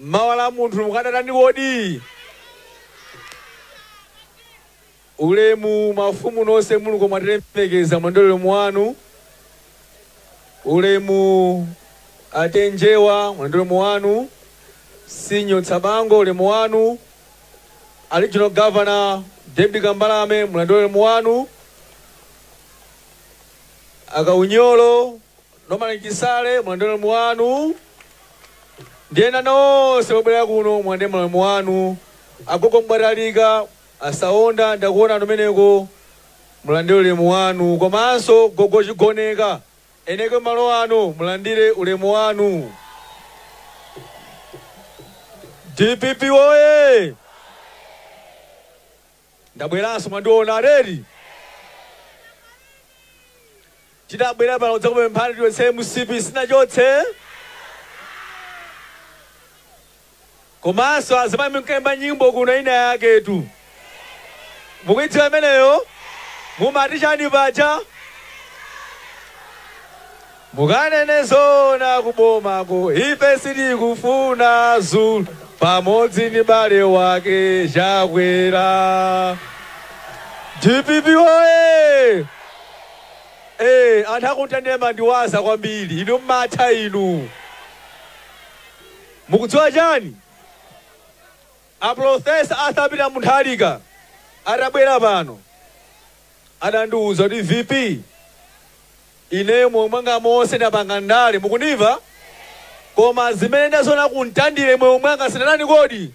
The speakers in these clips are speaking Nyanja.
Mawa la munthu mukadatani kodi? Ulemu mafumu nonse muluko mwatilemekeza mulandire ulemu wanu. Ulemu a T/A Njewa mulandire ulemu wanu. Senior Tsabango ulemu wanu. A regional governor David Kambalame mulandire ulemu wanu. Akaunyolo Norman Chisale mulandire ulemu wanu ndi ena nonse mwabwera kuno mulandire maulemu wanu. Agogo Mbatalika, a Saonda ndakuonani kumeneko mulandire ulemu wanu komanso gogo Chigoneka, eni ake malo ano mulandire ulemu wanu. Dpp woye! Ndabweranso mwandiona eti Tinabwera pano kudzakupemphani tichotse mcp sitinachotse Komanso azimayi munkaimba nyimbo kuno ina yaketu Mukuidziwa imeneyo? Mumati chani paja? Mukanene zoona ku boma ko ife sitikufuna Zulu pamodzi ndi bale wake chakwera dpp woye ee anthu aku Mtandire mumandiwaza kwambiri inu mmatha inu mukudziwa chani a professor arthur peter Mutharika atabwera pano adandiuza kuti vp Ineyo moyo mwanga monse ndapanga ndale mukundimva? Koma zimene ndaziona ku Mtandire moyo mwanga sindinatani kodi?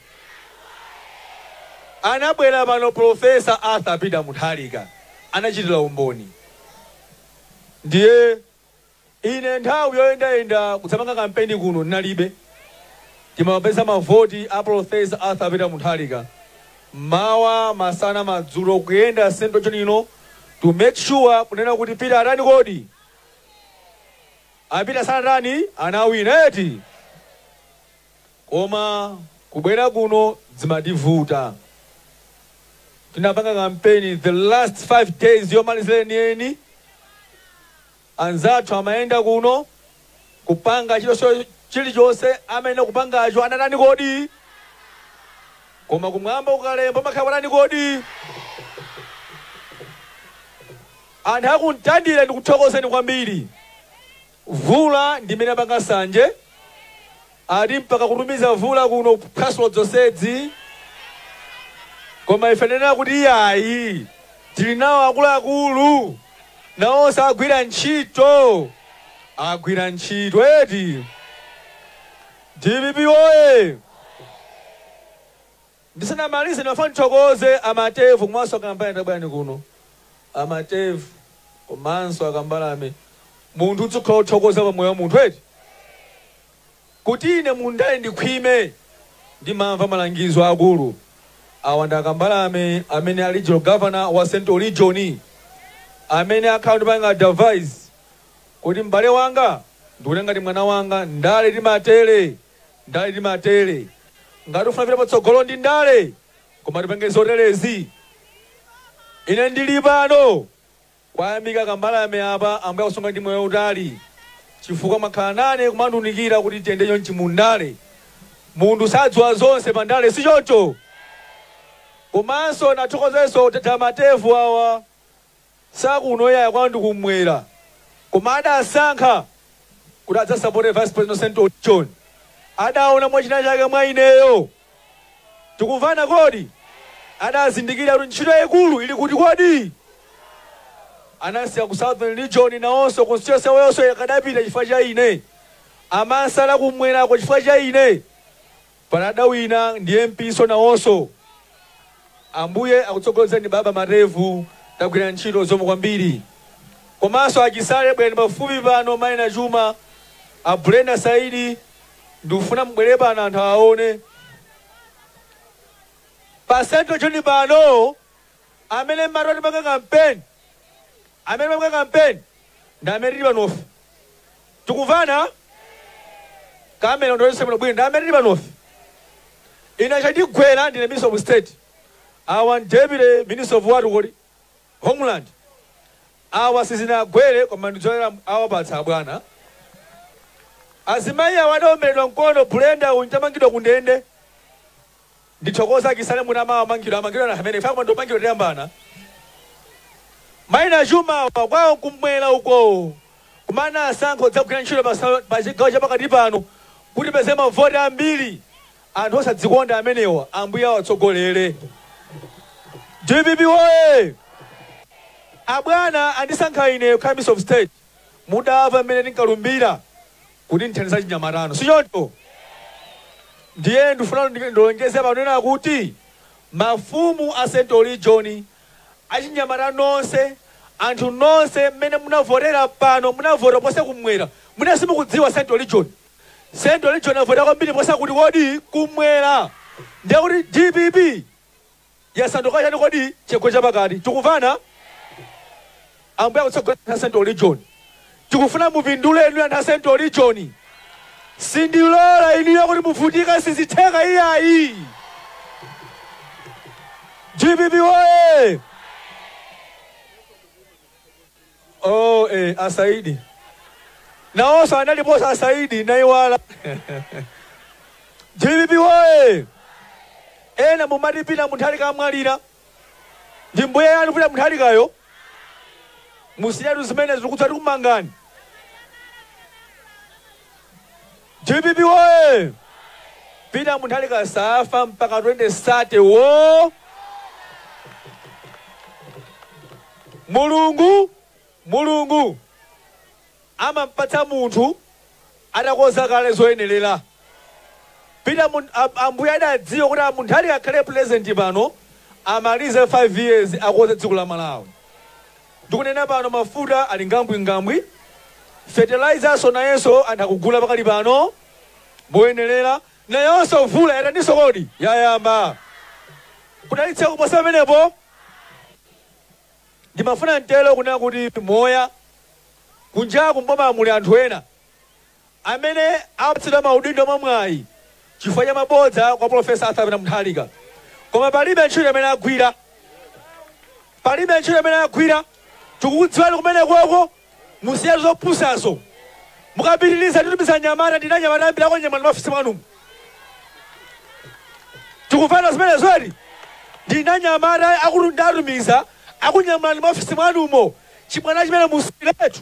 Anabwera pano Prof. Arthur Peter Mutharika anachitira umboni. Ndiye ine nthawi yoyendayenda kudzapanga kampeni kuno ndinalibe. Timapeza mavoti a Prof. Arthur Peter Mutharika M'mawa, masana, madzulo kuyenda central region ino to make sure kunena kuti Peter atani kodi? A Peter sanatani? Anawina eti? Koma kubwera kuno zimativuta. Tinapanga kampeni the last 5 days yomalizira yeniyeni. Anzathu amayenda kuno, kupanga chilichonse, chilichonse amene akupangacho, anatani kodi? Koma kumwamba kukalemba pamakhala patani kodi? Anthu a ku Mtandire ndikuthokozeni kwambiri. Vula ndi imene yapanga sanje. Ati mpaka kutumiza vula kuno kuphwasula dzonsedzi? Koma ife tinena kuti iyayi, tili nawo akuluakulu, nawonso agwira ntchito, agwira ntchito eti? Dpp woye! Ndisanamalize ndimafuna ndithokoze a Matevu komanso a Kambalame tabwerani kuno a Matevu komanso a Kambalame munthu udzikhala othokoza pa moyo wa munthu eti kuti ine mu ndale ndikhwime ndimamva malangizo a akulu awa ndi a Kambalame amene ali regional governor wa central region amene akhala ndipanga advise kuti m'bale wanga ndikutenga ngati mwana wanga ndale timatere Ndale timatere. Ngati ufuna kupita patsogolo ndi ndale koma tipange zoterezi. Ine ndili pano kuwayamika a Kambalame apa ambuye akusunga ndi moyo utali chifukwa mwakhala nane kumandiunikira kuti tiyende chonchi mu ndale. Munthu sadziwa zonse pa ndale si choncho? Komanso nathokozenso Dr. Matevu awa si akuno iyayi kwao ndi kummwera koma adasankha kuti adzasapote vice president central region adaona mwa chinachake mwa ineyo tikumvana kodi adazindikira kuti ntchito yaikulu ili kuti kodi anasiya ku southern region nawonso constituency yawonso yakadapita chifukwa cha ine amansala kumwerako chifukwa cha ine Pano adawina ndi MP nso nawonso Ambuye akutsogolereni baba Matevu tagwira ntchito zomwe kwambiri komanso a Chisale bwerani pafupi pano mai Nachuma a Brenda Saidi ndikufuna mubwere pano anthu awaone pa central region pano amene mmati atipanga campaign Amene amapanga campaign ndi amene tili panofe tikumvana kamera undiwonetse bwino bwino ndi amene tili panofe ine chandigwera ndine minister of state awa ndi deputy minister of what kodi homeland awa sizinagwere koma ndidzolera awapatsa abwana azimayi awa adaomberedwa mkono Brenda uyu adamangidwa kundende Ndithokoza Chisale munamawa mangidwa amangidwa na hameneyo faka mwendo mangidwa tiyambana mai Nachuma awa kwao kumwera ukoo koma anasankha kudzagwira ntchito pa sa- pa chigawo chapakati pano kuti tipeze mavoti ambiri anthu osadzikonda amenewa ambuye awatsogolere dpp woye abwana andisankha ine kukhala minister of state mudamva mmene ndinkalumbira kuti ndithandize achinyamata inu, si choncho? Ndiye ndifuna ndilonjeze pano kunena kuti mafumu a Central Region, achinyamata nonse, anthu nonse mmene munavotera pano, munavota kuposa kummwera. Mwina simukudziwa Central Region. Central Region avota kwambiri kuposa kuti kodi? Kummwera. Ndiye kuti dpp yasanduka chani kodi? Chigwa chapakati tikumvana? Ambuye akutsogoleni anthu a central region tikufuna mupindule inuyo anthu a central region sindilola inuyo kuti muvutika sizitheka iyayi. Dpp woye! Oh, eh, asaidi nawonso analiponso asaidi naiwala dpp woye ena mumati Pita Mutharika amwalira ndi mbuye wanu Pita Mutharikayo musiyatu zimenezo kutsa tikumangani Dpp woye! Peter Mutharika safa mpaka 2030 woo! Mulungu Mulungu amampatsa munthu atakonza kale zoyenerera. Peter Mun- a- Ambuye adadziwa kuti a Mutharika akhale pulezidenti pano amalize 5 years akonze dziko la Malawi. Ndikunena pano mafuta ali ngambwingambwi, fertilizerso nayenso anthu akugula pakali pano moyenerera, nayonso mvula yataninso kodi? Yayamba kudalitsa kuposa pamenepo. Ndimafuna n'tero kunena kuti muja kunjaku m'boma muli anthu ena. Amene apatsidwa maudindo mwa mwayi chifukwa cha mabodza kwa Prof Arthur Pita Mutharika koma palibe ntchito imene agwira palibe ntchito imene agwira tikukudziwani kumenekoko musiyatu zopusazo mukapitiliza titumiza anyamata ndili ndi anyamata ambiri akunyamulani m'maofesi mwanumu tikumvana zimenezo eti ndili ndi anyamata akuluakulu ndiatumiza akunyamulani m'maofesi mwanumo chibwana chimenecho musiyetu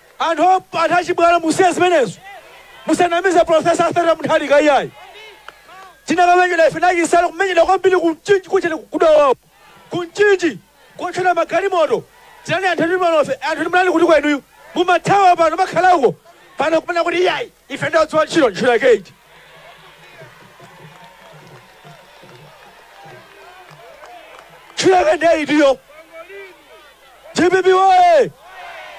Anthu anthu achibwana musiye zimenezo musanamize professor Arthur Mutharika iyayi tinakamenyedwa ife na Chisale kumenyedwa kwambiri ku Mchinji kujaku ku Dowa ku Mchinji kutiotchera magalimoto tinali anthu ndi panofe anthu munali kutiko inuyo mumathawa pano mwakhala uko pano kumanena kuti iyayi ife ndi odziwa ntchito ntchito yake iti ntchito yake ndiye itiyo Dpp woye!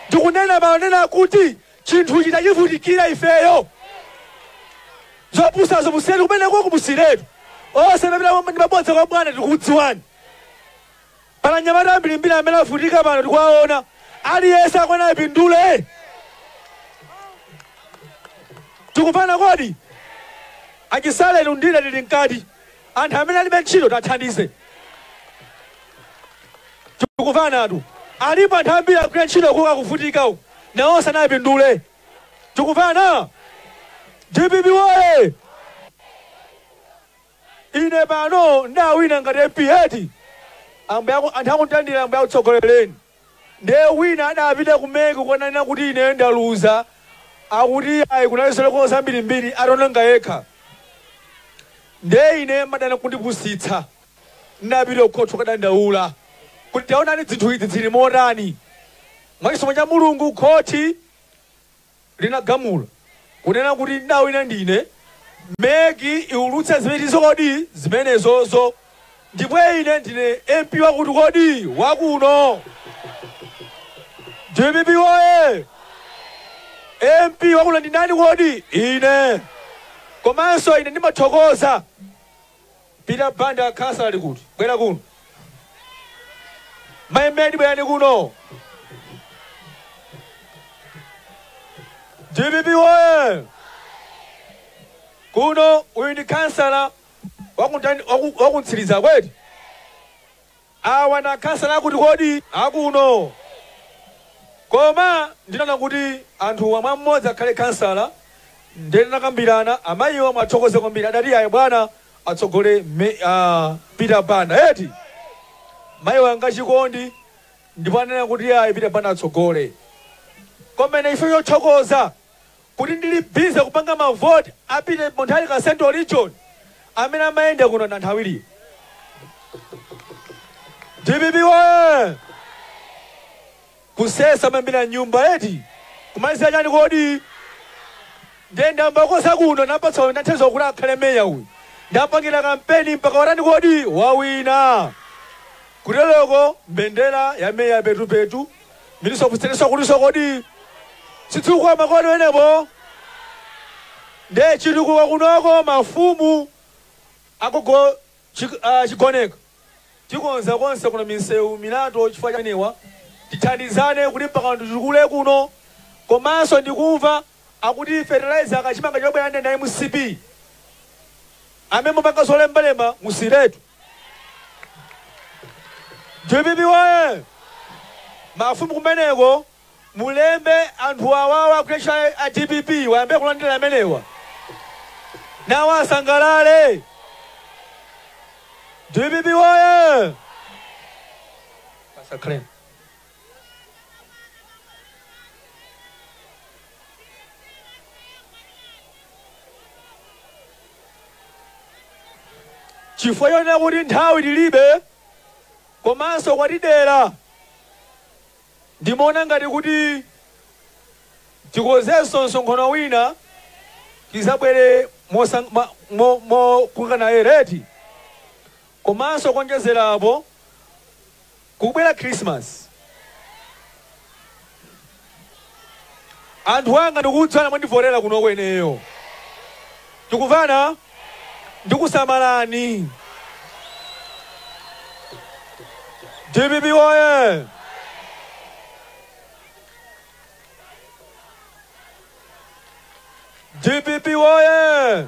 Ndikunena pano kunena kuti chinthuchi tachivutikira ifeyo. Zopusazo musiyeni kumeneko kumusiretu. Onse amapita ndi mabodza kwa bwana tikukudziwani. Pali anyamata ambirimbiri amene avutika pano tikuwaona. Aliyense akuyenera apindule. Tikumvana kodi? Achisale ni uyu nde tili mkati. anthu amene alibe ntchito tiwathandize tikumvanatu alipo anthu ambiri agwira ntchito kuka kuvutika uku nawo sanapindule tikumvana dpp woye ine pano ndawina ngati mp eti ambuye aku- anthu akundilandira ambuye akutsogolereni Nde wina adapita ku mec kukananena kuti ineyo ndaluza akuti iyayi kunali zolakwa zambiri mbiri ataononga yekha nde ine ndimadana nkundipusitsa ndinapita ku khoti kukadandaula kuti taonani dzinthu idzi dzili motani mwachisomo cha Mulungu khoti linagamula, kunena kuti, ndawina ndine, mec iwulutse zimenezo kodi zimenezozo, ndipo ine ndine MP wakuti kodi wa kuno. Dpp woye! MP wa kuno ndi ndani kodi? Ine! Komanso ine ndimathokoza Peter Banda a khansala ali kuti? Bwera kuno. Mai Medi bwerani kuno. DPP woye! Kuno uyu ndi khansala wakuntani- waku- wakuntsiriza kweti? awa ndi akhansala akuti kodi akuno koma ndinaona kuti anthuwa mwe mmodzi akhale khansala nde tinakambirana amayiwa muwathokoze kwambiri adati ayi bwana atsogole me- ah, peter banda eti mayi wanga chikondi ndipo anena kuti ayi peter banda atsogole komanso ife yothokoza kuti ndili busy kupanga ma vote a Peter Mutharika Central Region amene amayenda kuno nanthawilie. Dpp woye! Kusesa mambira nyumba eti? Kumalizira chani kodi? Nde ndamaliza kuno napatsa uyu ndathandiza kuti akhale meya uyu. Ndampangira kampeni mpaka watani kodi? Wawina! Kuteloko mbendera ya meya petupetu Miluso kuseneso kuluso kodi chitukuko makono wenepo nde chitukuko kunoko mafumu agogo chi, uh, chigoneka tikonza konse kuno misewu milatho chifukwa cha anewa tithandizane kuti mpaka titukule kuno komanso ndikumva akuti fertilizer kachimanga chobwera ndi a mcp amene mupanga zolembalemba musiretu dpp woye mafumu kumeneku mulembe anthu awawa kutesha a dpp wayambe kulandira amenewa nawo asangalale dpp woye Pastor Clem. Chifukwa chonena kuti nthawi tilibe komanso kwatidera, ndimaona ngati kuti tikonzenso msonkhano wina tizabwere mokungana eti? Komanso kuonjezera apo, Kukubwera Khrisimasi. Anthu anga ndikukuuzani mwandivotera kunoko ineyo. Tikumvana? Ndikusamalani. Dpp woye! Dpp woye!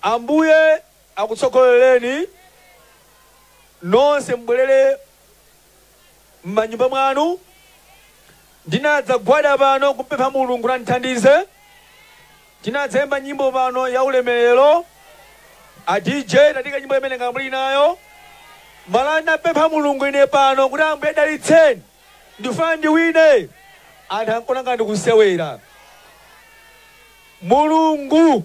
Ambuye akutsogolereni nonse mubwerere mmanyumba mwanu. Ndinadzagwada pano kumpempha Mulungu kuti andithandize. Tinadzayimba nyimbo pano ya ulemerero. A DJ tatiikirani nyimbo imene ngati muli nayo. Mala ndinapempha Mulungu ine pano kuti Ambuye dalitseni. Ndifuna ndiwine. Anthu ankaona ngati ndikusewera. Mulungu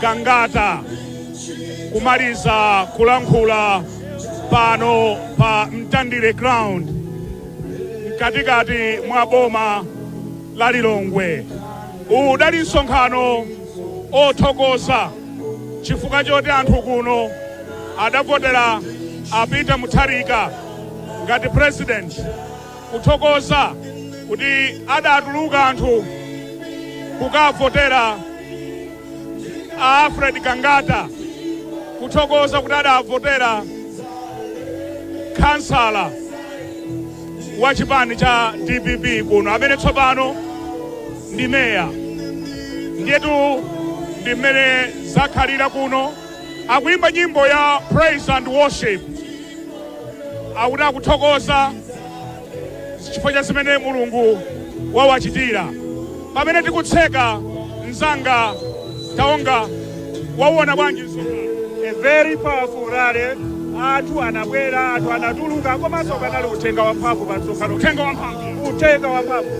Gangata kumaliza kulankhula pano pa Mtandire Ground mkatikati mwa boma la Lilongwe. Udali msonkhano othokoza chifukwa choti anthu kuno adavotera a Peter Mutharika ngati president kuthokoza kuti adatuluka anthu kukavotera a Alfred Gangata, kuthokoza kuti adavotera khansala wa chipani cha DPP kuno amene tsopano ndi meya. Ndiyetu ndi mmene zakhalira kuno, akuyimba nyimbo ya praise and worship. akuti akuthokoza chifukwa cha zimene mulungu wawachitira pamene tikutseka mzanga taonga wawuona bwanji msonkhano a very powerful rally anthu anabwera anthu anatuluka komanso panali uthenga wamphamvu pa msonkhano uthenga wamphamvu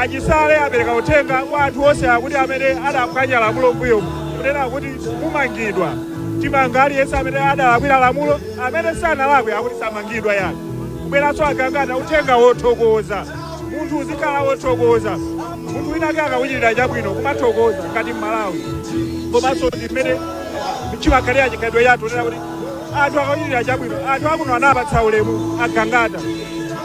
achisale apereka uthenga kwa anthu onse akuti amene adaphwanya lamulo mmbuyo kunena kuti mumangidwa timanga aliyense amene adalakwira lamulo amene sanalakwe akuti samangidwa iyayi kubweranso a gangata uthenga wothokoza munthu uzikhala wothokoza munthu winawake akakuchitira chabwino kumathokoza ngati mmalawi komanso ndi mmene chimakhalira chikhalidwe chathu kunena kuti anthu akakuchitira chabwino anthu akuno anapatsa ulemu a gangata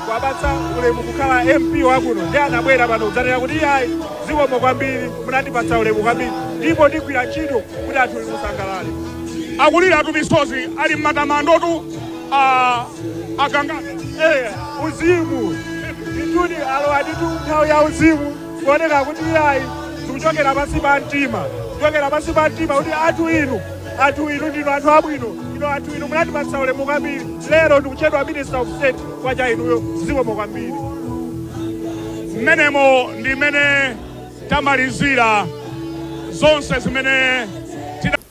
kuwapatsa ulemu kukhala mp wakuno ndi anabwera pano kudzanena kuti iyayi zikomo kwambiri munandipatsa ulemu kwambiri ndipo ndigwira ntchito kuti anthu musangalale akuliratu misozi ali m'matamandotu a a gangata Eh, uzimu nditudi alowa nditu nthawi ya uzimu kuoneka kuti iyayi zikuchokera pansi pa mtima kuchokera pansi pa mtima kuti anthu inu anthu inu ndinu anthu abwino inu anthu inu munandipatsa ulemu kwambiri lero ndikutchedwa minister of state chifukwa cha inuyo zikomo kwambiri mmenemo ndi mmene tamalizira zonse zimene